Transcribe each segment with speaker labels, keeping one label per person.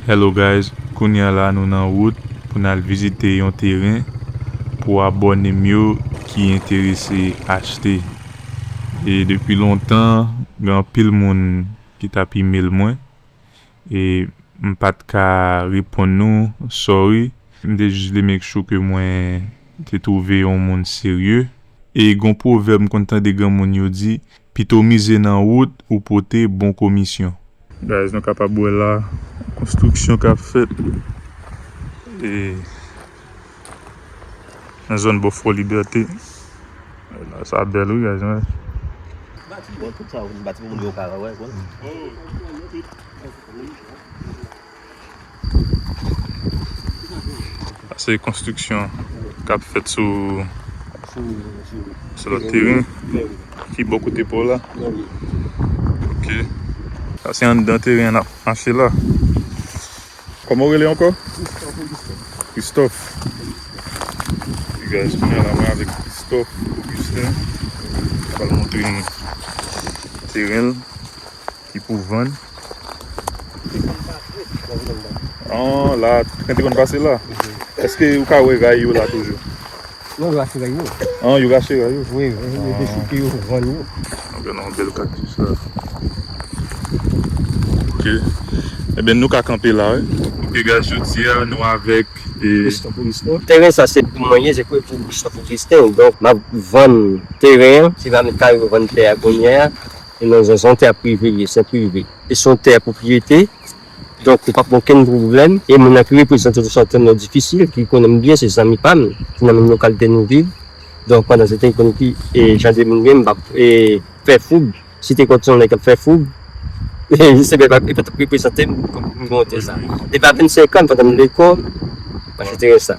Speaker 1: Hello guys kounya la nou nan wout pou nal vizite yon teren pou abòne m yo ki enterese achte e depi lontan gen anpil moun ki tap email mwen e m pat ka reponn nou sorry m te jis vle make sure ke mwen te trouve yon moun serye e gon pwovèb m konn tande granmoun yo di pito mize nan wout ou pote bon komisyon. Guys nou kapab wè la konstriksyon kap fèt nan zòn bò fò libète sa bèl wi guys mwen. Se konstriksyon k ap fèt sou lòt teren. Ki bò kote pa w la? Ok. Sa se anndan teren an n ap mache la. Kòman w rele ankò? Kristòf Ogistin. Kristòf Ogistin. Ok guys, kounyè a la mwen avèk Kristòf Ogistin. L ap montre nou teren l. Ki pou vann. An la tren te konn pase la. Eske ou ka wè ray yo la toujou. Non yo rache
Speaker 2: ray yo. An yo rache ray yo.
Speaker 1: Wi yo dechouke
Speaker 2: yo vann yo. An gen yon bèl
Speaker 1: cactus la. Ok ebyen nou ka kanpe la wi. Ok guys jodi a nou avèk e. Christophe
Speaker 2: Augustin. Teren sa se pou mwen ye se pou Christophe Augustin donk map vann teren an. Se pa met kare yo vann tè a kounyè a. E non zen son tè prive liye se prive e son tè pwopriyete donk ou pap gen okenn pwoblèm e moun nan ki reprezante nou sa tèlman yo difisil ki konnen nou byen se zanmi pam se nan menm lokalite nou viv donk pandan se te konn ki jan de moun gen m pap fè foub si te konn son nèg kap fè foub li se menm li patap reprezante m kòm moun gen yon tè sa depi a 25 an pandan m lekòl mwen achete ren sa.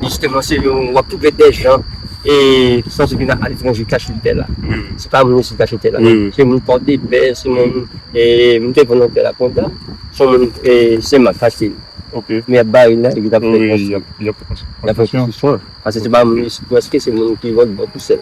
Speaker 2: Jisteman se nou wap twouve dè jan e san se vin aletranje kache tè la. Se pa moun isit kache tè la non. Se moun pòdepè, se moun e m te konn yon tè la kontan, se moun e sen mak kache li. Men yap
Speaker 1: bare l la epi
Speaker 2: yap fè konstriksyon.
Speaker 1: Yap fè konstriksyon. Pase se pa moun isit
Speaker 2: pwèske se moun ki lòt bò tou sèl.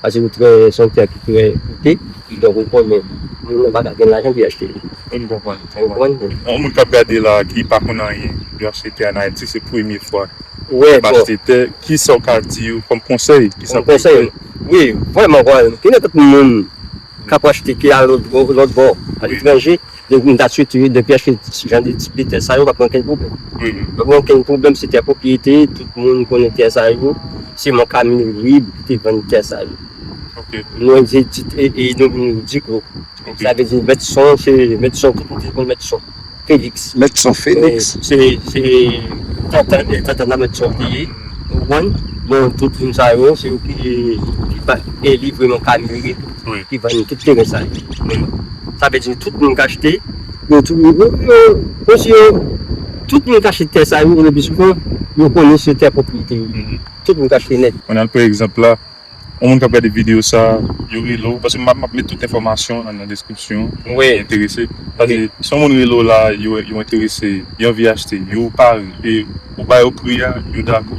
Speaker 2: Pase ou
Speaker 1: trè se
Speaker 2: yon teyat ki trè koute donk ou konnen moun nan paka gen lajan pou li achte li. M konprann.
Speaker 1: Ou konprann? Yon moun k ap gade la a ki pa konn anyen pou achte tè an Ayiti se premye fwa l ap achte
Speaker 2: tè kisa
Speaker 1: w ka di yo kòm konsèy? Kòm konsèy? Wi
Speaker 2: vrèman vrèman gen anpil moun k ap achte tè a lòtbò aletranje Depi m ta tchwe tchwe, depi achte jan de tip de tè sa yo pap gen okenn pwoblèm. Pap gen okenn pwoblèm se tè pwopriyete, tout moun konnen tè sa yo, se mank a Mirib ki te vann tè sa yo.
Speaker 1: Mwen di tit
Speaker 2: e non li Diklo. Sa vle di mèt son se mèt son tout moun te konn mèt son Feliks. Mèt son
Speaker 3: Feliks.
Speaker 2: Se tantan nan mèt son li ye. Ou konprann? Bon tout moun sa yo se yo ki pa eli vreman ka Mirib. ki vann tout teren sa yo. Sa vle di tout moun k achte yo tou monsi yo tout moun k achte tè sa yo lepi sou fon yo konnen se tè pwopriyete yo ye. Tout moun k achte nèt. An al pran egzanp la
Speaker 1: yon moun k ap gade videyo sa yo rele w paske m ap met tout enfòmasyon an nan deskripsyon pou moun ki enterese
Speaker 2: paske
Speaker 1: si yon moun rele w la yo enterese yo anvi achte yo pare e ou ba yo pri a yo dakò.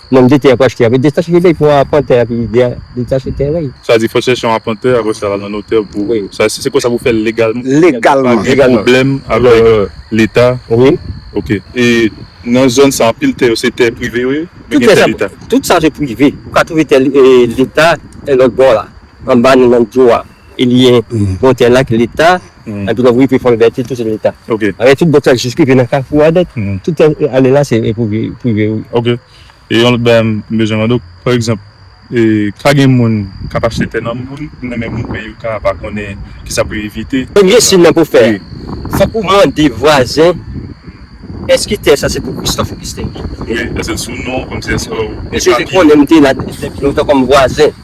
Speaker 2: Nonm de tè ap achte a. Detache de lejman a pwente a pi de detache tèren yo. Sa di fò chèche yon
Speaker 1: apwente apre sa al nan notè pou sa se konsa pou fèl legalman. Legalman. Pa gen
Speaker 3: pwoblèm avèk
Speaker 1: leta. Wi. Ok.
Speaker 2: E
Speaker 1: nan zòn sa anpil tè yo se tè prive yo ye? Oubyen gen tè leta? Tout sa
Speaker 2: se prive. Ou ka twouve tè leta lòt bò la. Anba nou nan dlo a. Elye bon tè la ki leta epi lè ou rive fò libète tout se leta alè tout bon tè
Speaker 1: jis rive
Speaker 2: nan kafou a nèt tout tè ale la se pou prive wi. Ok e
Speaker 1: yon lòt bagay m bezwen mande w pa egzanp ka gen moun k ap achte tè nan moun ki
Speaker 2: nan
Speaker 1: men moun men yo ka pa
Speaker 2: konnen
Speaker 1: kisa pou yo
Speaker 2: evite.
Speaker 1: Premye siy nan pou w
Speaker 2: fè fòk ou mande vwazen èske tè sa se pou Christophe Augustin li ye wi èske l sou
Speaker 1: non w kòmsi èske w gen papye. Mesye te konnen m
Speaker 2: te la depi lontan kòm vwazen.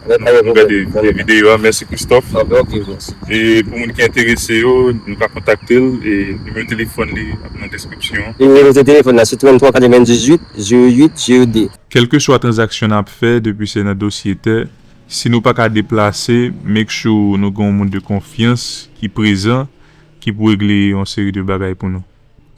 Speaker 1: Mwen wè mwen
Speaker 2: gade premye videyo a
Speaker 1: mèsi Christophe
Speaker 2: e pou moun ki
Speaker 1: enterese yo nou ka kontakte l e nimewo telefòn li ap nan deskripsyon an. Nimewo de telefòn
Speaker 2: la se 33 98 08 02. Kelkeswa tranzaksyon
Speaker 1: nap fè depi se nan dosye tè si nou paka deplase make sure nou gen yon moun de konfyans ki prezan ki pou regle yon seri de bagay pou nou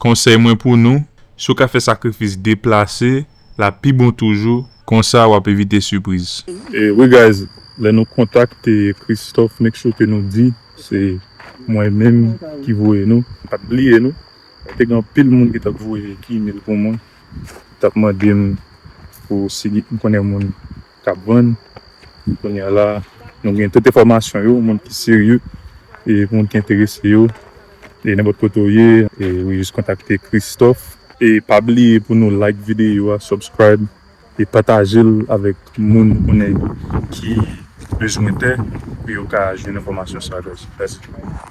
Speaker 1: konsèy mwen pou nou si w ka fè sakrifis deplase la pi bon toujou konsa wap evite sipriz. Wi guys lè nou kontakte Christophe make sure ke nou di se mwen menm ki voye nou pat bliye nou men te gen anpil moun ki tap voye email pou mwen tap mandem pou si m konnen moun. kap vann kounye a la nou gen tout enfòmasyon yo moun ki serye e moun ki enterese yo e nenpòt kote ou ye ou jis kontakte Christophe. E pa bliye pou nou like videyo a subscribe e patajel avèk moun ou konnen ki bezwen tè pou yo ka jwenn enfòmasyon sa yo guys mèsi.